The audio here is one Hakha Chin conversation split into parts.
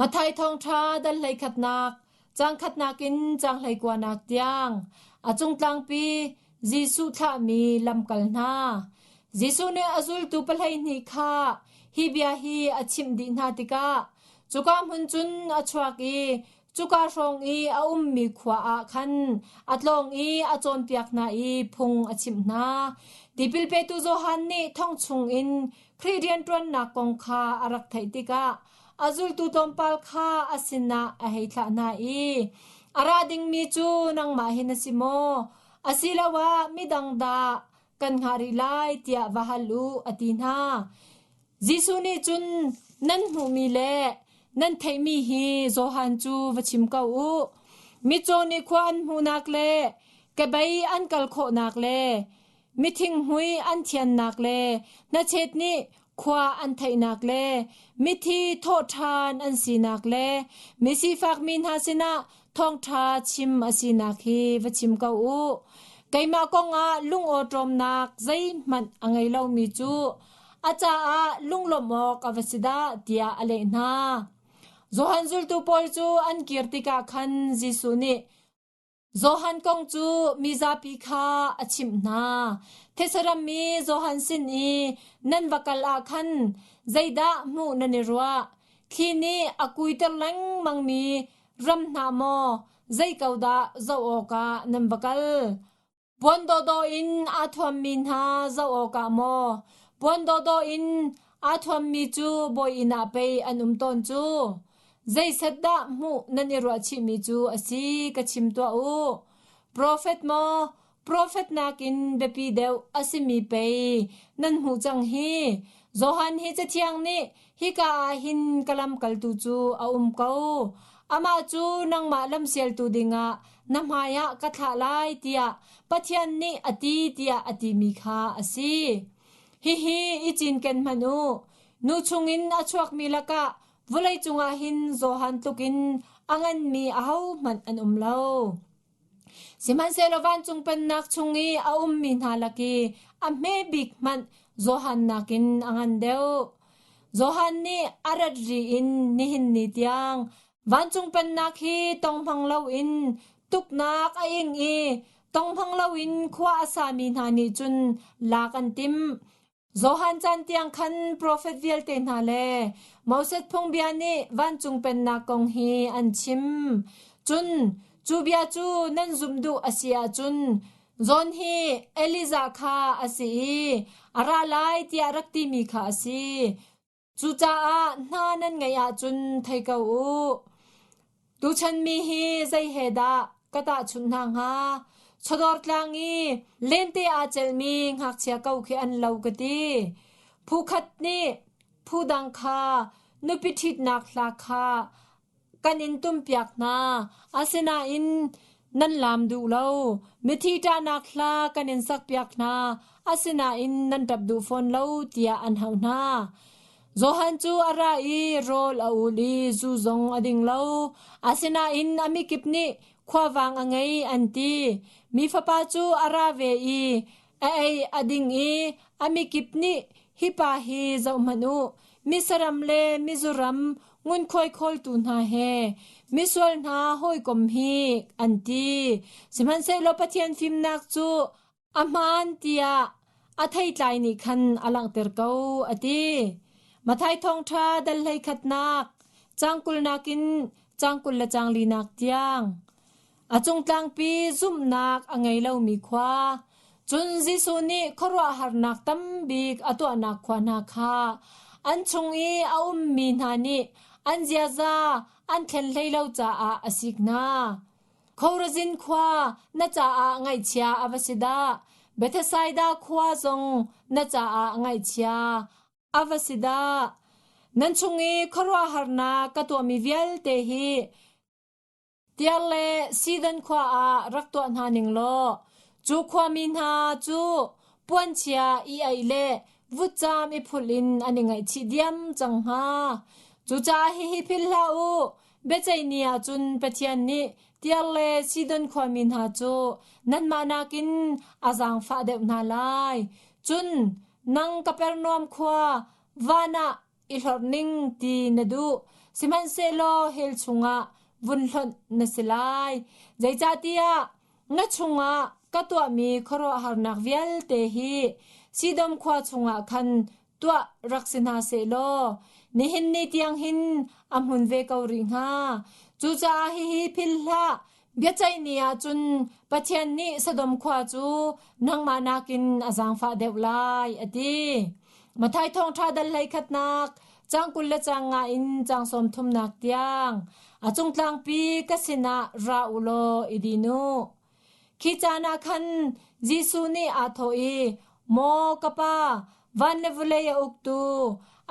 Matthai Thawngṭha dal hleikhatnak, caang khatnak in caang hleikuanak tiang a cungtlangpi Jesuh thlahmi lamkal hna. Jesuh nih a zultu pahleihnih kha hi bia hi a chimh dih hna tikah cuka hmun cun a chuak i cuka hrawng i a ummi khua ah khan a tlawng i a cawnpiak hna i phung a chimh hna. Tipil petu Johan nih thong chung in Khrih rianṭuannak kong kha a rak theih tikah A zultu tlawmpal kha a sinah a hei thlah hna i, A ra dingmi cu nangmah hi na si maw? Asiloah midang dah kan hngah rih lai tiah va hal u, a ti hna. Jesuh nih cun nan hmuhmi le nan theihmi hi Johan cu va chim ko u. Mitcaw nih khua an hmuhnak le kebei an kal khawhnak le Mithinghmui an thiannak le hnachet nih khua an theihnak le mithi thawhṭhan an sinak le misifakmi hna sinah thawngṭha chim a sinak hi va chim ko u. Keimah kongah lungawṭawmnak zeihmanh a ngei lomi cu a caah lunglawmh awk a va si dah tiah a leh hna. Johan zultu pawl cu an kir tikah khan Jesuh nih, Johan kong cu mizapi kha a chimh hna. Thesaram mi Johan sin i nan va kal ah khan zeidah hmuh nan i ruah? Thli nih a kuiter lengmangmi ram hna maw zei ko dah zoh awkah nan va kal? Puan dawhdawh in aa thuammi hna zoh awkah maw puan dawhdawh in aa thuammi cu bawi inn ah pei an um tawn cu. Zeiset dah hmuh nan i ruah chihmi cu a si ka chim tuah u. Profet maw profet nakin biapi deuh a simi pei nan hmuh cang hi. Johan hi Cathiang nih Hika ah hin ka lamkaltu cu a um ko. Amah cu nangmah lamsialtu dingah na hmaiah ka thlah lai tiah Pathian nih a ti tiah a timi kha a si. Hihi i cinken hmanh u. Nu chungin a chuakmi lakah vawlei cungah hin Johan tlukin a nganmi ahohmanh an um lo. Sihmanhsehlaw vancung pennak chung i a ummi hna lak i a hmebik hmanh Johan nakin a ngan deuh. Johan nih a rat ri in nihin ni tiang vancung pennak hi tonghmang loin tuknak a ing i tonghmang loin khua a sami hna nih cun lak an timh. Johan caan tiang khan profet vialte hna le Moses phungbia nih vancung pennak kong hi an chim. Cun cu bia cu nan zumh duh a si ahcun John hi Elijah kha a si i a ra lai tiah rak timi kha a si. Cucaah hna nan ngeih ahcun thei ko u. Tuchan mi hi zei he dah ka tahchunh hna hnga? Chawdawr tlang i lente aa celmi ngakchia ko khi an lo ka ti. Phu khat nih phu dang kha nupi ṭhitnak hla kha Kan in tumpiak hna, asinain nan laam duh lo. Mithi ṭahnak hla kan in sakpiak hna, asinain nan ṭap duh fawn lo tiah an hal hna. Johan cu a ra i rawl a ul i zu zong a ding lo. Asinain a mikip nih khuavang a ngei an ti. Mi fapa cu a ra ve i, A ei a ding i a mikip nih, “Hi pa hi zohhmanh u, misaram le mizuram ngunkhuai khawltu hna he misual hna hawikom hi,” an ti. Sihmanhsehlaw Pathian fimnak cu a hmaan tiah a theitlai nih khan a langhter ko, a ti. Mathai Thawngṭha dal hlei khatnak, caang kul nakin caang kul le caang linak tiang. A cungtlangpi zumhnak a ngei lomi khua, cun Jesuh nih khuaruahharnak tambik a tuahnak khua hna kha an chung i a ummi hna nih an ziaza an thlen hlei lo caah a sik hna. Khorazin khua na caah ngaihchia a va si dah! Bethesaida khua zong na caah ngaihchia a va si dah! Nan chung i khuaruahharnak ka tuahmi vialte hi Tiar le Sidon khua ah rak tuah hna ning law cu khuami hna cu puanchia i ei le vutcaam i phulh in an i ngaihchih diam cang hnga. Cucaah hihi philh hlah u, biaceih ni ah cun Pathian nih Tiar le Sidon khuami hna cu nanmah nakin a zaangfah deuh hna lai. Cun nang Kapernaum khua, van ah I hlorh ning ti na duh, sihmanhsehlaw hell chungah vun hlonh na si lai. Zeicahtiah na chungah ka tuahmi khuaruahharnak vialte hi Sidom khua chungah khan tuah rak si hna seh law nihin ni tiang hin a hmun ve ko rih hnga. Cucaah hihi philhhlah, biaceih ni ah cun Pathian nih Sodom khua cu nangmah nakin a zaangfah deuh lai a ti. Mathai thawngṭha dal hlei khatnak cang kul le cang nga in cang sawm thumnak tiang a cung tlangpi ka sinah ra u law i dinu. Khi caan ah khan Jesuh nih aa thawh i, Maw ka pa, Van le vulei a uktu,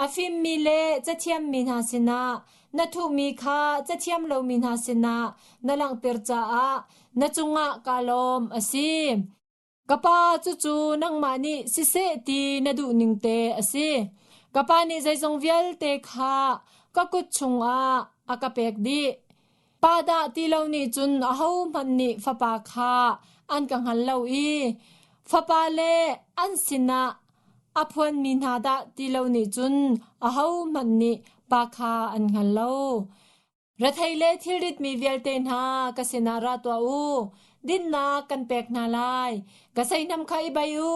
a fimmi le cathiammi hna sinah na thuhmi kha cathiam lomi hna sinah na langhter caah na cungah kaa lawm a si. Ka Pa, cucu nangmah nih siseh ti na duh ning te a si. Ka Pa nih zeizong vialte kha ka kut chungah a ka pek dih. Pa dah ti lo nih cun ahohmanh nih fapa kha an ka hngal lo i fapale an sinah a phuanmi hna dah ti lo nih cun ahohmanh nih pa kha an hngal lo. Rethei le thilritmi vialte hna ka sinah ra tuah u. Dinnak kan pek hna lai. Ka seihnam kha i bei u.